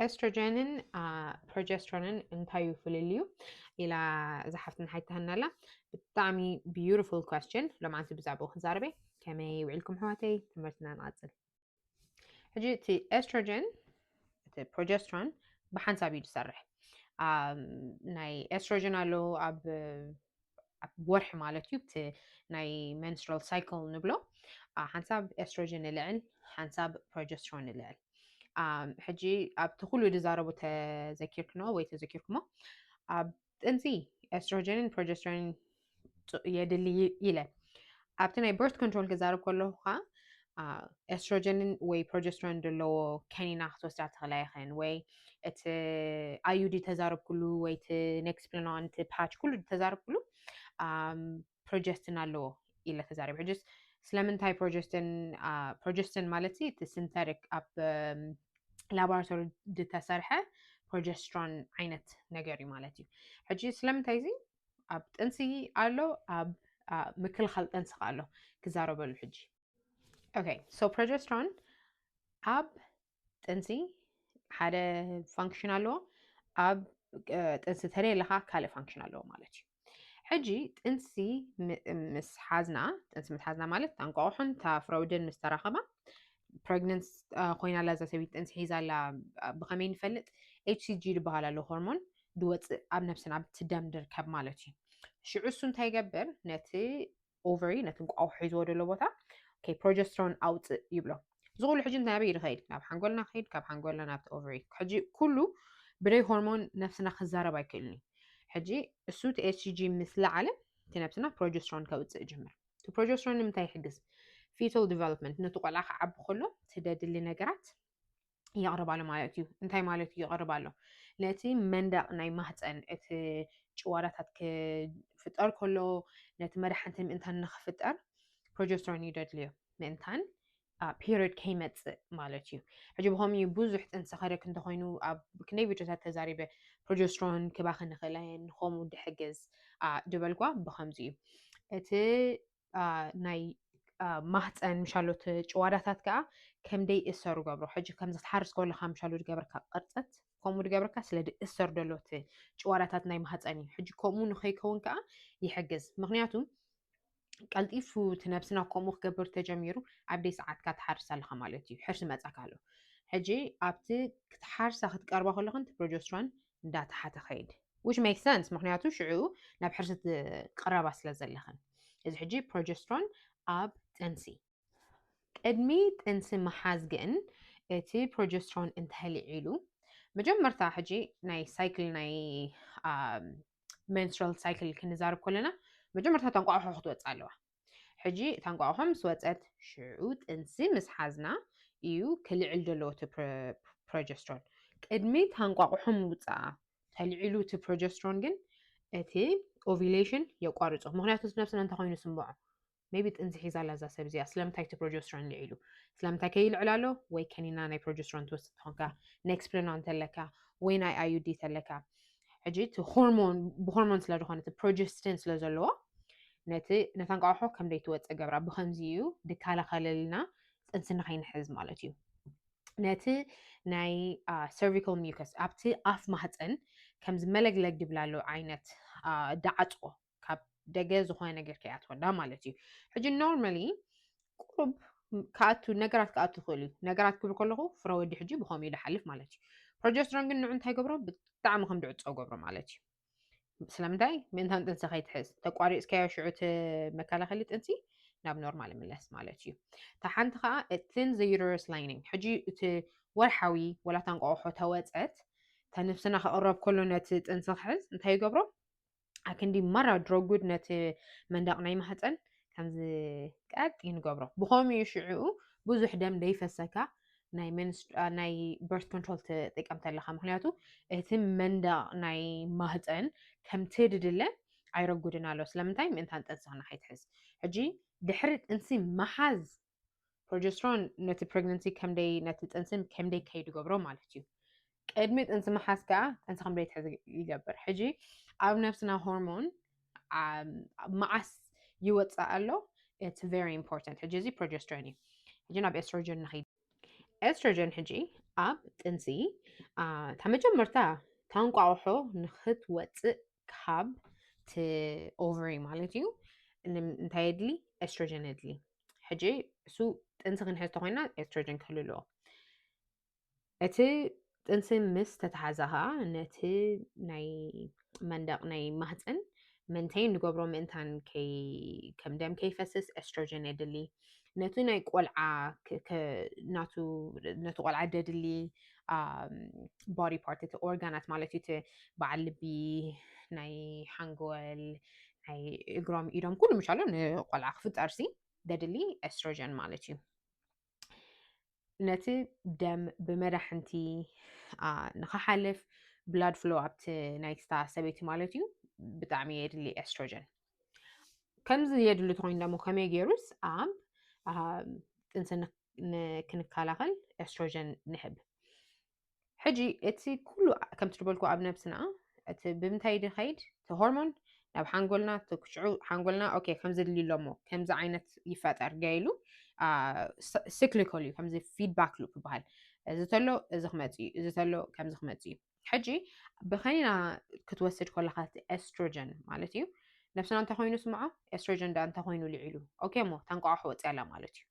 ኤስትሮጀንን ፕሮጀስትሮንን እንታይ እዩ ፍልልዩ ኢላ እዛ ሓፍትና ሓይታህና ኣላ ብጣዕሚ ቢዩቲፉል ኳስችን ሎማዓንቲ ብዛዕባኡ ክንዛረበ ከመይ ውዒልኩም ሕዋተይ ትምህርትና ንቐፅል ሕጂ እቲ ኤስትሮጀን እቲ ፕሮጀስትሮን ብሓንሳብ እዩ ዝሰርሕ ናይ ኤስትሮጀን ኣሎ ኣብ ኣብ ወርሒ ማለት እዩ እቲ ናይ መንስትራል ሳይክል ንብሎ ሓንሳብ ኤስትሮጅን ንልዕል ሓንሳብ ፕሮጀስትሮን ንልዕል ሕጂ ኣብቲ ኩሉ ዝዛረቡ ተዘኪርክኖ ወይ ተዘኪርኩሞ ኣብ ጥንሲ ኤስትሮጅንን ፕሮጀስትሮንን የድሊ ኢለ ኣብቲ ናይ በርት ኮንትሮል ክዛረብ ከለኹ ከዓ ኤስትሮጀንን ወይ ፕሮጀስትሮን ዘለዎ ከኒና ክትወስዳ ትኽእላ ይኽን ወይ እቲ ኣዩዲ ተዛረብኩሉ ወይ እቲ ኔክስፕለናን እቲ ፓች ኩሉ ተዛረብኩሉ ፕሮጀስትን ኣለዎ ኢለ ተዛሪብ ሕጅስ ስለምንታይ ፕሮጀስትን ፕሮጀስትን ማለት እቲ ሲንተቲክ ኣብ ላቦራቶሪ ዝተሰርሐ ፕሮጀስትሮን ዓይነት ነገር እዩ ማለት እዩ ሕጂ ስለምንታይ እዚ ኣብ ጥንሲ ኣሎ ኣብ ምክልኻል ጥንሲ ከ ኣሎ ክዛረበሉ ሕጂ ኦኬ ሶ ፕሮጀስትሮን ኣብ ጥንሲ ሓደ ፋንክሽን ኣለዎ ኣብ ጥንሲ ተለየለካ ካልእ ፋንክሽን ኣለዎ ማለት እዩ ሕጂ ጥንሲ ምስ ሓዝና ጥንሲ ምስ ሓዝና ማለት ታንቋቑሑን ታፍረውድን ምስ ተራኸባ ፕሬግነንስ ኮይና ኣላ እዛ ሰበይቲ ጥንሲ ሒዛ ኣላ ብኸመይ ንፈልጥ ኤችሲጂ ዝበሃል ኣሎ ሆርሞን ድወፅእ ኣብ ነብስና ብትደም ድርከብ ማለት እዩ ሽዑ እሱ እንታይ ይገብር ነቲ ኦቨሪ ነቲ እንቋቑሖ ሒዝዎ ዘሎ ቦታ ኦኬ ፕሮጀስትሮን ኣውፅእ ይብሎ እዚ ኩሉ ሕጂ እንታይ ኣበይ ይኸይድ ናብ ሓንጎልና ከይድ ካብ ሓንጎልና ናብቲ ኦቨሪ ሕጂ ኩሉ ብደይ ሆርሞን ነብስና ክዛረብ ኣይክእልን እዩ ሕጂ እሱ እቲ ኤችጂ ምስ ለዓለ እቲ ነብስና ፕሮጀስትሮን ከውፅእ ይጅምር እቲ ፕሮጀስትሮን ንምንታይ ይሕግዝ ፊቶል ዲቨሎፕመንት ነቲ ቆልዓ ክዓቢ ከሎ ትደድሊ ነገራት የቕርባሉ ማለት እዩ እንታይ ማለት እዩ የቕርባሉ ነቲ መንደቕ ናይ ማህፀን እቲ ጭዋዳታት ክፍጠር ከሎ ነቲ መድሓንቲ ምእንታን ንክፍጠር ፕሮጀስትሮን ይደድልዮ ምእንታን ፔሪድ ከይመፅእ ማለት እዩ ሕጂ ብኸም እዩ ብዙሕ ጥንሲ ከደክ እንተኮይኑ ኣብ ክንደይ ቪድዮታት ተዛሪበ ፕሮጀስትሮን ክባኽ ንክእላየን ንከምኡ ድሕግዝ ድበልጓ ብከምዚ እዩ እቲ ናይ ማህፀን ምሻሎት ጭዋዳታት ከዓ ከምደይ እሰሩ ገብሮ ሕጂ ከምዚ ትሓርስ ከለካ ምሻሉ ድገብረካ ቅርፀት ከምኡ ድገብረካ ስለ እሰሩ ደሎት ጭዋዳታት ናይ ማህፀን እዩ ሕጂ ከምኡ ንከይከውን ከዓ ይሕግዝ ምክንያቱ ቀልጢፉ እቲ ነብስና ከምኡ ክገብር ተጀሚሩ ኣብ ደይ ሰዓትካ ትሓርስ ኣለካ ማለት እዩ ሕርሲ መፃካ ኣሎ ሕጂ ኣብቲ ክትሓርሳ ክትቀርባ ከለክን ፕሮጀስትሮን እንዳተሓተ ከይድ which makes sense ምክንያቱ ሽዑ ናብ ሕርሲ ትቅረባ ስለ ዘለኽን እዚ ሕጂ ፕሮጀስትሮን ኣብ ጥንሲ ቅድሚ ጥንሲ ምሓዝ ግን እቲ ፕሮጀስትሮን እንተህልዒሉ መጀመርታ ሕጂ ናይ ሳይክል ናይ መንስትራል ሳይክል ክንዛርብ ከለና መጀመርታ ተንቋዕሖ ክትወፅእ ኣለዋ ሕጂ እታ እንቋቑሖ ምስ ወጸት ሽዑ ጥንሲ ምስ ሓዝና እዩ ክልዕል ዘለዎ እቲ ፕሮጀስትሮን። ቅድሚ እታ እንቋቑሖ ምውጽኣ ተልዒሉ እቲ ፕሮጀስትሮን ግን እቲ ኦቪሌሽን የቋርጾ ምክንያቱ እቲ ነብስና እንታይ ኮይኑ ስምዖ ሜቢ ጥንሲ ሒዛ ኣላ እዛ ሰብ እዚኣ ስለምንታይ እቲ ፕሮጀስትሮን ልዒሉ ስለምንታይ ከይልዕል ኣሎ ወይ ከኒና ናይ ፕሮጀስትሮን ትወስድ ትኾንካ ኔክስፕለኖን ተለካ ወይ ናይ ኣዩዲ ተለካ ሕጂ እቲ ሆርሞን ብሆርሞን ስለ ዝኾነ እቲ ፕሮጀስቲን ስለ ዘለዎ ነቲ ነታ እንቋቑሖ ከም ዘይትወፅእ ገብራ ብከምዚ እዩ ድከላኸለልና ጥንሲ ንኸይንሕዝ ማለት እዩ ነቲ ናይ ሰርቪካል ሚከስ ኣብቲ ኣፍ ማህፀን ከምዚ መለግለግ ድብላሉ ዓይነት ዳዓፅዎ ካብ ደገ ዝኾነ ነገር ከይኣትወና ማለት እዩ ሕጂ ኖርማሊ ቁሩብ ክኣቱ ነገራት ክኣቱ ይኽእል እዩ ነገራት ክብል ከለኹ ፍረ ወዲ ሕጂ ብኸምኡ እዩ ዝሓልፍ ማለት እዩ ፕሮጀስትሮን ግን ንዑ እንታይ ገብሮ ብጣዕሚ ከም ድዕፆ ገብሮ ማለት እዩ ስለምንታይ ምእንታን ጥንሲ ከይትሕዝ ተቋሪፅካዮ ሽዑ እቲ መከላኸሊ ጥንሲ ናብ ኖርማል ይምለስ ማለት እዩ እታ ሓንቲ ከዓ እትን ዘዩተረስ ላይኒንግ ሕጂ እቲ ወርሓዊ ወላታ እንቋቑሖ ተወፀት ተነፍስና ክቕረብ ከሎ ነቲ ጥንሲ ክሕዝ እንታይ ይገብሮ ኣክንዲ ማራ ድሮጉድ ነቲ መንደቕ ናይ ማህፀን ከምዚ ቀጥ ንገብሮ ብኸምኡ እዩ ሽዕኡ ብዙሕ ደም ደይፈሰካ ናይ ናይ በርት ኮንትሮል ትጥቀም ተለካ ምክንያቱ እቲ መንደቕ ናይ ማህፀን ከምቲ ድድለ ኣይረጉድን ኣሎ ስለምንታይ ምእንታን ጥንስኽና ከይትሕዝ ሕጂ ድሕሪ ጥንሲ መሓዝ ፕሮጀስትሮን ነቲ ፕሬግነንሲ ከምደይ ነቲ ጥንስን ከምደይ ከይድ ገብሮ ማለት እዩ ቅድሚ ጥንሲ መሓዝ ከዓ ጥንሲ ከምደይ ትሕዚ ይገብር ሕጂ ኣብ ነፍስና ሆርሞን መዓስ ይወፅእ ኣሎ ኢትስ ቨሪ ኢምፖርታንት ሕጂ እዚ ፕሮጀስትሮን እዩ ሕጂ ናብ ኤስትሮጀን ንኸይድ ኤስትሮጀን ሕጂ ኣብ ጥንሲ እታ መጀመርታ ታንቋቑሖ ንክትወፅእ ካብ ቲ ኦቨሪ ማለት እዩ እንታይ የድሊ ኤስትሮጀን የድሊ ሕጂ እሱ ጥንሲ ክንሕዝቶ ኮይና ኤስትሮጅን ክህሉ ኣለዎ እቲ ጥንሲ ምስ ተተሓዘ ከዓ ነቲ ናይ መንደቅ ናይ ማህፅን ምንታይ ንገብሮ ምእንታን ከም ደም ከይፈስስ ኤስትሮጅን የድሊ ነቲ ናይ ቆልዓ ናቱ ነቲ ቆልዓ ደድሊ ቦዲ ፓርት እቲ ኦርጋናት ማለት እዩ እቲ በዓል ልቢ ናይ ሓንጎል ናይ እግሮም ኢዶም ኩሉ ምሻሎ ንቆልዓ ክፍጠር ሲ ደድሊ ኤስትሮጀን ማለት እዩ ነቲ ደም ብመዳሕንቲ ንክሓልፍ ብላድ ፍሎ ኣብቲ ናይ ስታ ሰበይቲ ማለት እዩ ብጣዕሚ የድሊ ኤስትሮጀን ከምዚ የድሊ ትኮይኑ ደሞ ከመይ ገይሩስ ኣብ ጥንሲ ክንከላኸል ኤስትሮጀን ንህብ ሕጂ እቲ ኩሉ ከምቲ ዝበልኩ ኣብ ነብስና እቲ ብምንታይ ድኸይድ እቲ ሆርሞን ናብ ሓንጎልና ትክሽዑ ሓንጎልና ኦኬ ከምዚ ድልዩ ኣሎሞ ከምዚ ዓይነት ይፈጠር ገይሉ ሲክሊኮል እዩ ከምዚ ፊድባክ ሉፕ ይበሃል እዚ ተሎ እዚ ክመፅ እዩ እዚ ተሎ ከምዚ ክመፅ እዩ ሕጂ ብኸኒና ክትወስድ ከለካ እቲ ኤስትሮጀን ማለት እዩ ነብስና እንተኮይኑ ስምዖ ኤስትሮጀን ዳ እንተኮይኑ ልዒሉ ኦኬ እሞ ታንቋቋሕ ወፅያ ኣላ ማለት እዩ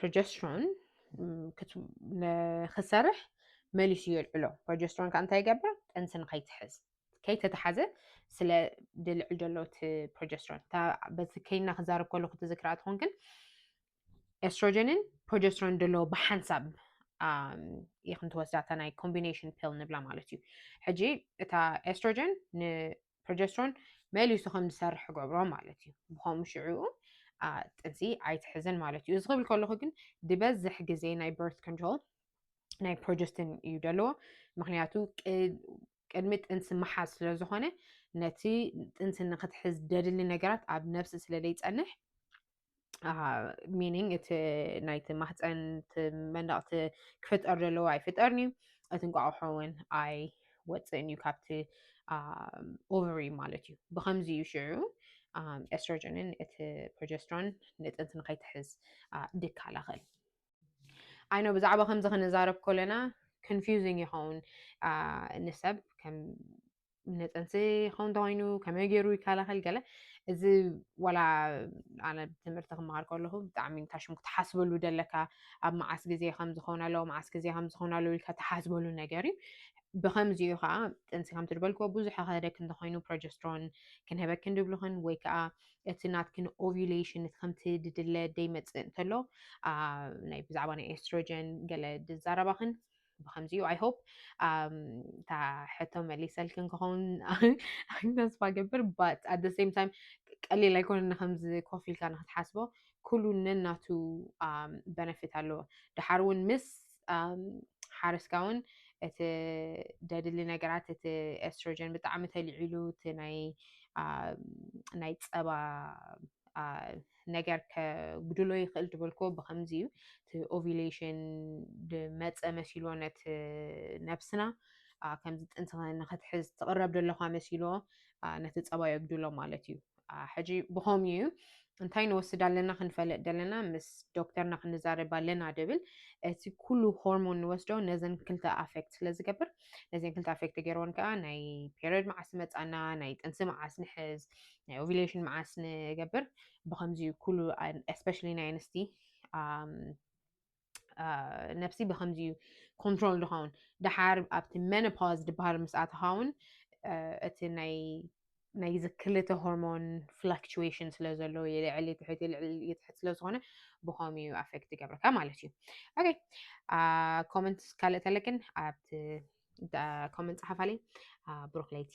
ፕሮጀስትሮን ንክሰርሕ መሊሱ የልዕሎ ፕሮጀስትሮን ከዓ እንታይ ይገብር ጥንሲ ንከይትሕዝ ከይተተሓዘ ስለ ድልዕል ዘሎ እቲ ፕሮጀስትሮን በዚ ከይና ክዛረብ ከሎ ክትዝክራ ትኾን ግን ኤስትሮጀንን ፕሮጀስትሮን ዘለዎ ብሓንሳብ ይኽን ትወስዳታ ናይ ኮምቢኔሽን ፒል ንብላ ማለት እዩ ሕጂ እታ ኤስትሮጀን ፕሮጀስትሮን መሊሱ ከም ዝሰርሕ ክገብሮ ማለት እዩ ብከምኡ ሽዑኡ ጥንሲ ኣይትሕዝን ማለት እዩ እዚ ክብል ከለኹ ግን ዝበዝሕ ግዜ ናይ በርት ኮንትሮል ናይ ፕሮጀስትን እዩ ዘለዎ ምክንያቱ ቅድሚ ጥንሲ መሓዝ ስለ ዝኾነ ነቲ ጥንሲ ንክትሕዝ ደድሊ ነገራት ኣብ ነብሲ ስለ ዘይፀንሕ ሚኒንግ እቲ ናይቲ ማህፀን መንዳቕቲ ክፍጠር ዘለዎ ኣይፍጠርን እዩ እቲ እንቋቑሖ እውን ኣይ ወፅእን እዩ ካብቲ ኦቨሪ ማለት እዩ ብከምዚ እዩ ሽዑ ኤስትሮጅንን እቲ ፕሮጀስትሮን ንጥንቲ ንከይትሕዝ ድከላኸል ኣይኖ ብዛዕባ ከምዚ ክንዛረብ ኮለና ኮንፊዚንግ ይኸውን ንሰብ ከም ንፅንሲ ክኸውን እንተኮይኑ ከመይ ገይሩ ይከላኸል ገለ እዚ ዋላ ኣነ ትምህርቲ ክመሃር ከለኹ ብጣዕሚ ታሽሙ ክትሓስበሉ ደለካ ኣብ መዓስ ግዜ ከም ዝኸውን ኣለዎ መዓስ ግዜ ከም ዝኸውን ኣለዎ ኢልካ ትሓስበሉ ነገር እዩ ብከምዚኡ ከዓ ጥንሲ ከም ትድበልክዎ ብዙሕ ከደክ እንተኮይኑ ፕሮጀስትሮን ክንህበክ እንድብልኽን ወይ ከዓ እቲ ናትክን ኦቪሌሽን ከምቲ ድድለ ደይመፅእ እንተሎ ናይ ብዛዕባ ናይ ኤስትሮጀን ገለ ድዛረባኽን ብከምዚ ዩ ኣይሆፕ እታ ሕቶ መሊሰልክን ክኸውን ተስፋ ገብር ባት ኣደ ሴም ታይም ቀሊል ኣይኮነ ንከምዚ ኮፍ ኢልካ ንክትሓስቦ ኩሉ ነናቱ በነፊት ኣለዎ ድሓር እውን ምስ ሓረስካ እውን እቲ ደድሊ ነገራት እቲ ኤስትሮጀን ብጣዕሚ ተልዒሉ እቲ ናይ ናይ ፀባ ነገር ከጉድሎ ይኽእል ዝበልክዎ ብኸምዚ እዩ እቲ ኦቪሌሽን ብመፀ መሲሎ ነቲ ነብስና ከምዚ ጥንቲ ንክትሕዝ ትቕረብ ደለኻ መሲሎ ነቲ ፀባ የጉድሎ ማለት እዩ ሕጂ ብኸምኡ እዩ እንታይ ንወስድ ኣለና ክንፈለጥ ደለና ምስ ዶክተርና ክንዛረብ ኣለና ድብል እቲ ኩሉ ሆርሞን ንወስዶ ነዘን ክልተ ኣፌክት ስለ ዝገብር ነዘን ክልተ ኣፌክት ገይርዎን ከዓ ናይ ፔሪድ መዓስ መፃና ናይ ጥንሲ መዓስ ንሕዝ ናይ ኦቪሌሽን መዓስ ንገብር ብከምዚ ኩሉ ስፔሻሊ ናይ ኣንስቲ ነብሲ ብከምዚ እዩ ኮንትሮል ዝኸውን ድሓር ኣብቲ መኖፓዝ ዝበሃል ምስ ኣተኻውን እቲ ናይ ናይዚ ክልተ ሆርሞን ፍላክቹዌሽን ስለ ዘሎ የልዕሊ ትሕት የልዕሊ ትሕት ስለ ዝኾነ ብኸምኡ እዩ ኣፌክት ይገብረካ ማለት እዩ ኦኬ ኮመንት ካልእ ተለክን ኣብቲ ኮመንት ፀሓፋለይ ብሩክ ለይቲ